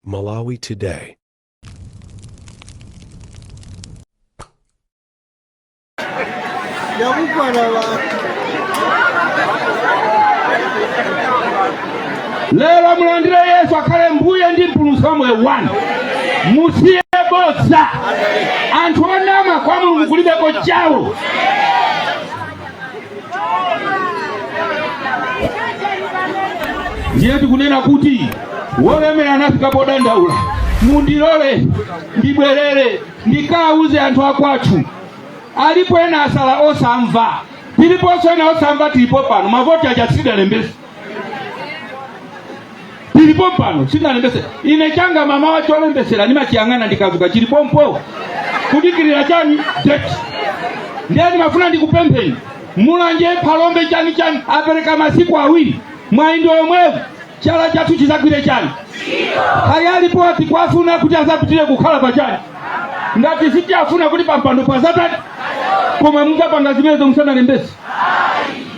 Malawi Today. yakwana nthawi lero mulandire yesu akhale mbuye ndi mpulumutsi wa moyo wanu musiye bodza anthu onama kwa mulungu kulibeko chawo ndiye tikunena kuti wolemera anafika podandaula mundilole ndibwerere ndikawuze anthu akwathu alipo ena asala osamva tiliponso ena osamva tilipo pano mavoti aja sitidalembese tilipo pano sitinalembese ine changa mama cholembesera ndimachiyang'ana ndikazuka chilipompo kudikirira chani deti ndiye ndimafuna ndikupempheni mulanje phalombe chani chani apereka masiku awiri mwayi ndi womwewu chala chathu chizagwire chani kaya alipo tikuwafuna kuti azapitire kukhala pa chani ngati sitiwafuna kuti pampando pazachani koma mungapange zimenezo musanalembese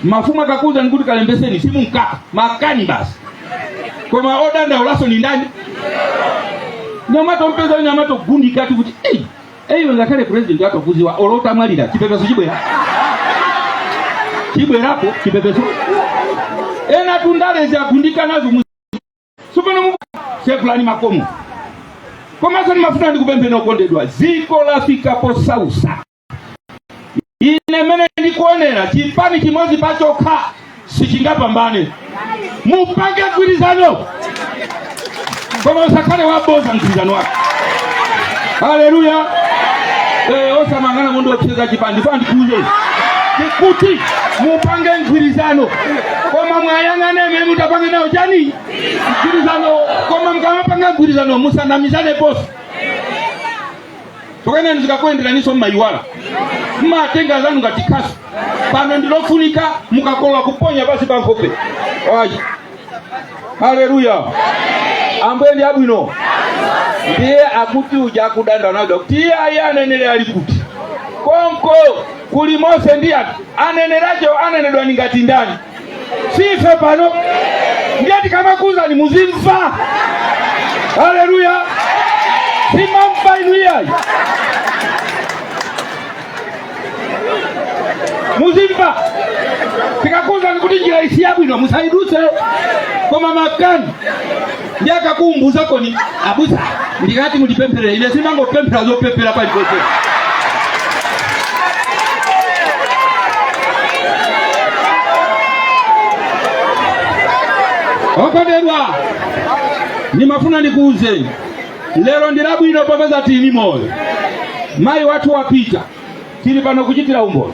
mafumu akakuuzani kuti kalembeseni simumka makani basi koma odandaulaso ndi ndani nyamata ompeza we nyamata ogundika ati kuti eyi eyiwe ngakhale president watokuziwa olo utamwalira chipepeso chibwera chibwerapo chipepeso ena tundalezi agundika nazo mu- sopano mu- sekulani makomo komanso ni mafuta ndikupempheni okondedwa ziko lafika posausa ine mene ndikuonera chipani chimodzi pachokha sichingapambane mupange mgwirizano koma usakhale waboza mgwirizano wake haleluya Eh, osamangana munthu wocheza chipani pa ndikuuze kuti mupange mgwirizano koma muwayang'ane amene mutapange nawo chani mgwirizano koma mukamapanga mgwirizano musanamizane posi tikuonani zikakuyenderaniso mmayiwala mmatenga anzanu ngati khasu pano ndilofunika mukakolola kuponya pasi pa nkhope wayi haleluya ambuye ndi abwino ndiye akuti uja akudandaula kuti iye ayi anenere ali kuti konko kuli mose ndiye aneneriwo anenedwa ndi ngati ndani si ife pano ndiye tikamakuuzani muzimva haleluya simamva inu iyayi muzimva tikakuuzani kuti njira iyi siyabwino musaiduse koma makani ndiye akakumbuza koni abusa ndikati mutipempherere ine simangopemphera zopemphera paliponse okondedwa ndimafuna ndikuuzeni lero ndi labwino popeza tili moyo mayi wathu wapita tili pano kuchitira umboni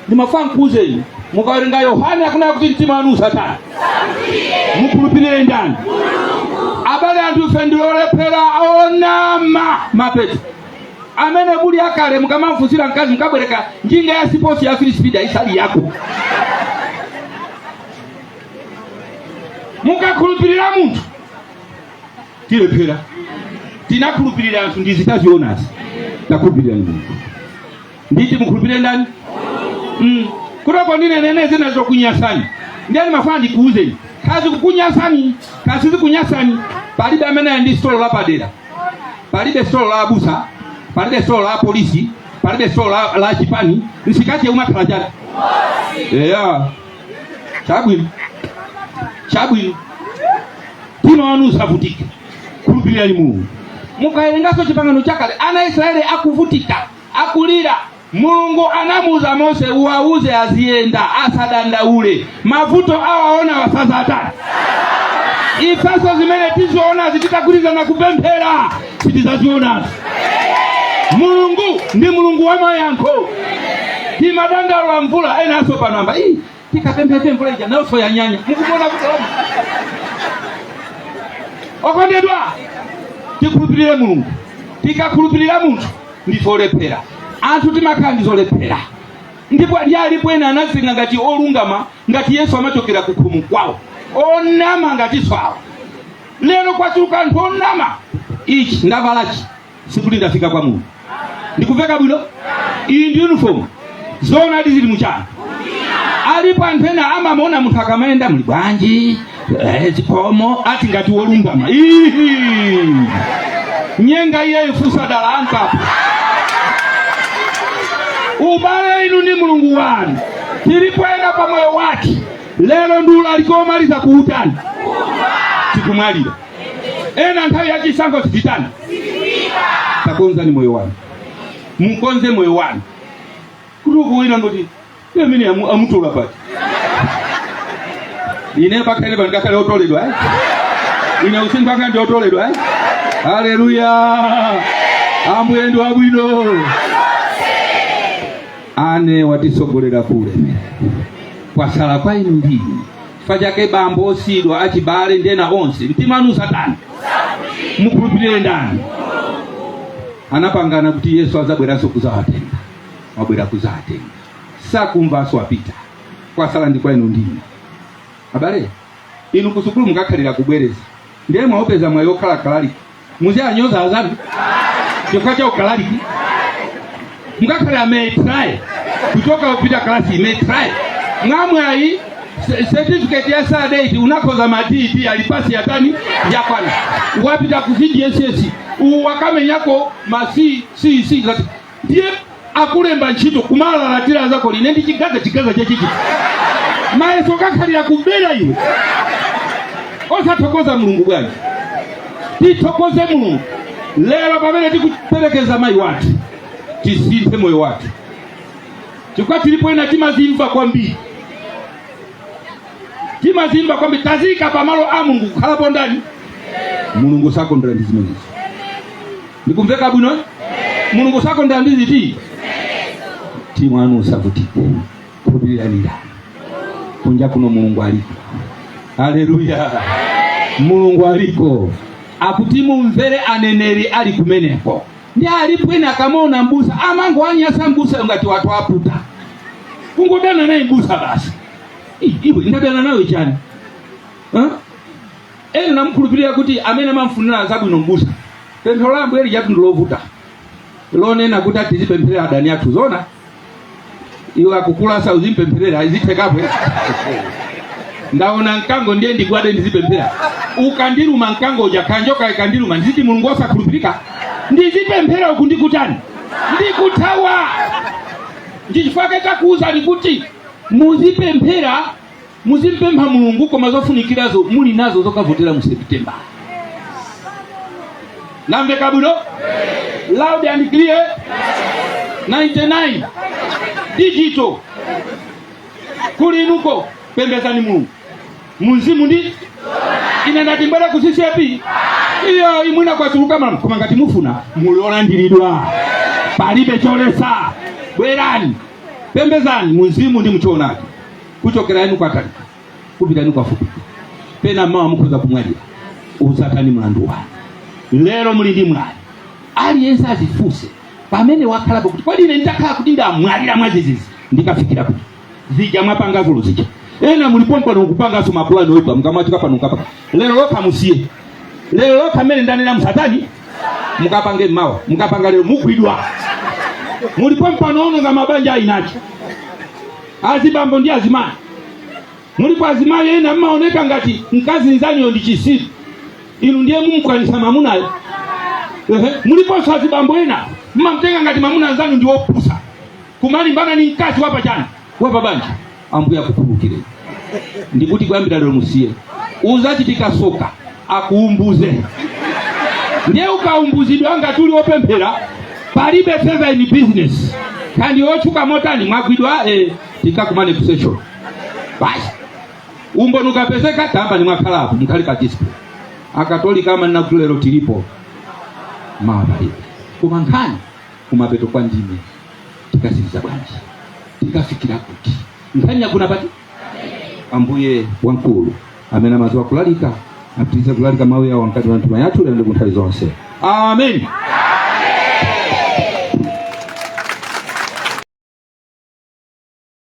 ndimafuna nkuuzeni mukawerenga yohane akunena kuti mtima wanu usatani mukhulupirire ndani abale anthu ife ndi olephera onama mapeto amene kuli akale mukamamfunsira mkazi mukabwereka njinga ya siposi ya three speed isali yako mukakhulupirira munthu tilephera tinakhulupirira anthu ndi zitazionazi takhulupirira munthu nditi mukhulupirire ndani mm. kutoko ndinenene zina zokunyasani ndiye ndimafuna ndikuuzeni kazi kukunyasani kazi zikunyasani palibe amene ali ndi sitolo lapadera palibe sitolo la abusa palibe sitolo la polisi palibe sitolo la, la chipani nsikati umakhala chani eya chabwino chabwino mtima wanu usavutike khulupirirani mulungu mukawerenganso chipangano chakale ana a israeli akuvutika akulira, Mulungu anamuuza Mose, uwauze aziyenda asadandaule, mavuto awaonawa sazatani ifenso zimene tizionazi titagwirizana kupemphera sitizazionazi. Mulungu ndi Mulungu wa mayankho. Timadandaula mvula enaso panamba tikapemphera mvula ija nayonso yanyanya mukuona kuti okondedwa tikhulupirire mulungu tikakhulupirira munthu ndife olephera anthu timakhala ndi zolephera ndipo ndi alipo ena anazika ngati olungama ngati yesu amachokera ku khomo kwawo onama ngatinso awo lero kwachuluka anthu onama ichi ndavalachi sikuti ndafika kwa Mulungu. Ndikuveka bwino? Iyi ndi uniform. Zoonadi zili muchani. Alipo anthu ena amamuona munthu akamayenda muli bwanji? Eh, zikomo ati ngati wolungama. Ihi. Nyenga iye ifusa dala ankapo. Ubale inu ni Mulungu wanu. Tilipoenda pa moyo wake. Lero ndula alikomaliza kutani. Tikumwalira. ena nthawi ya chisankho sititani takonzani moyo wanu mukonze moyo wanu kuti ukuwina ngoti iye amene amu- amutula pati ine pakhale pano ngakhale otoledwa eh? ine usini pakhale ndi otoledwa eh? haleluya ambuye ndi wabwino ane watitsogolera kuulemera kwatsala kwa inu ndinu chifukwa chake bambo osiyidwa achibale ndi ena onse mtima wanu usatani mukhulupirire ndani anapangana kuti yesu adzabweranso kuzawatenga wabwera kuzawatenga sakumvanso wapita kwasala ndi kwa inu ndi ine abale inu kusukulu mukakhalira kubwereza ndiye mwaupeza mwayi okhala kalaliki muzianyoza azanu chifukwa cha ukalaliki ngakhale ametraye kuchoka kupita kalasi imetraye mwamwayi se- certificate ya standard 8 unakhoza ma dd ali pasi yatani yakwana wapita ku cdss wakamenyako ma ccc ndiye akulemba ntchito kumalalatira azako uli ine ndi chigaza chigaza chachichi mayeso kakhalira kubera iwe osathokoza mulungu bwanji tithokoze mulungu lero pamene tikuperekeza mayi wathu tisinthe moyo wathu chifukwa tilipo ena timazimva kwambiri timazimva kwambiri taziika pamalo a mulungu kukhalapo ndani mulungu sakondera ndi zimenezi ndikumveka bwino eh? mulungu sakondera ndi ziti mtima wanu usavutike khulupirirani ndani kunja kuno mulungu aliko haleluya mulungu aliko akuti mumvere aneneri ali kumeneko ndi alipo ena akamaona mbusa amangowanyasa mbusa ngati wawaputa kungodana naye mbusa basi Ih, iwe ndadana nawe chani Huh? ena anamukhulupirira kuti amene amamfunira zabwino mbusa pemphero la ambuye lijatu ndi lovuta lonena kuti ati tizipempherera adani athu zona iwe akukulasa uzimpempherera zitheka apo ndaona mkango ndiye ndigwade ndizipemphera ukandiluma mkango uja kanjoka ikandiluma ndiziti mulungu osakhulupirika ndizipemphera uku ndikutani ndikuthawa ndichifake takuuzani kuti muzipemphera muzimpempha mulungu koma zofunikirazo muli nazo zokavotera mu september namveka bwino loud and clear 99 digital kuli inuko pembezani mulungu mumzimu ndi ine ndati mubwere ku ccap iyayi mwina kwachuluka mala koma ngati mufuna muli olandiridwa palibe cholesa bwerani pembezani mumzimu ndi muchoonadi kuchokera inu kwatali kupita inu kwafupi pena mawa mukhoza kumwalira udzatani mlandu wanu lero muli ndi mwayi aliyense azifunse pamene wakhalapo kuti kodi ine nditakhala kuti ndamwalira mwadzidzidzi ndikafikira kuti zija mwapanga dzulo zija ena muli pompano kupanganso mapulani oipa mukamwazika pano mukapa lero lokha musiye lero lokha mmene ndanena musatani mukapange mawa mukapanga lero mugwidwa muli pompano ononga mabanja a eniache azibambo ndi azimayi mulipo azimayi ena mmaona ngati mkazi nzanuyo ndi chisiru inu ndiye mumkwanisa mamunayo Ehe, muliponso azibambo ena mmamtenga ngati mamuna nzanu ndi wopusa kumalimbana ni mkazi wapa chani wapa banja ambuye akukhululukire ndikuti kuyambira lero musiye uzachitika soka akuumbuze ndiye ukaumbuzidwa ngati uli wopemphera palibe favour in business kaya ndi otchuka motani mwagwidwa eh, tikakumane ku session basi umboni ukapezeka tamba ni mwakhala apo mkhali pa display akatolika amanena kuti lero tilipo mawa palibe koma nkhani kumapeto kwa ndime tikasiriza bwanji tikafikira kuti nkhani yakuna pati ambuye wamkulu amene amadziwa kulalika apitirize kulalika mawu yawo mkati mwa mitima yathu lero ndi ku nthawi zonse amen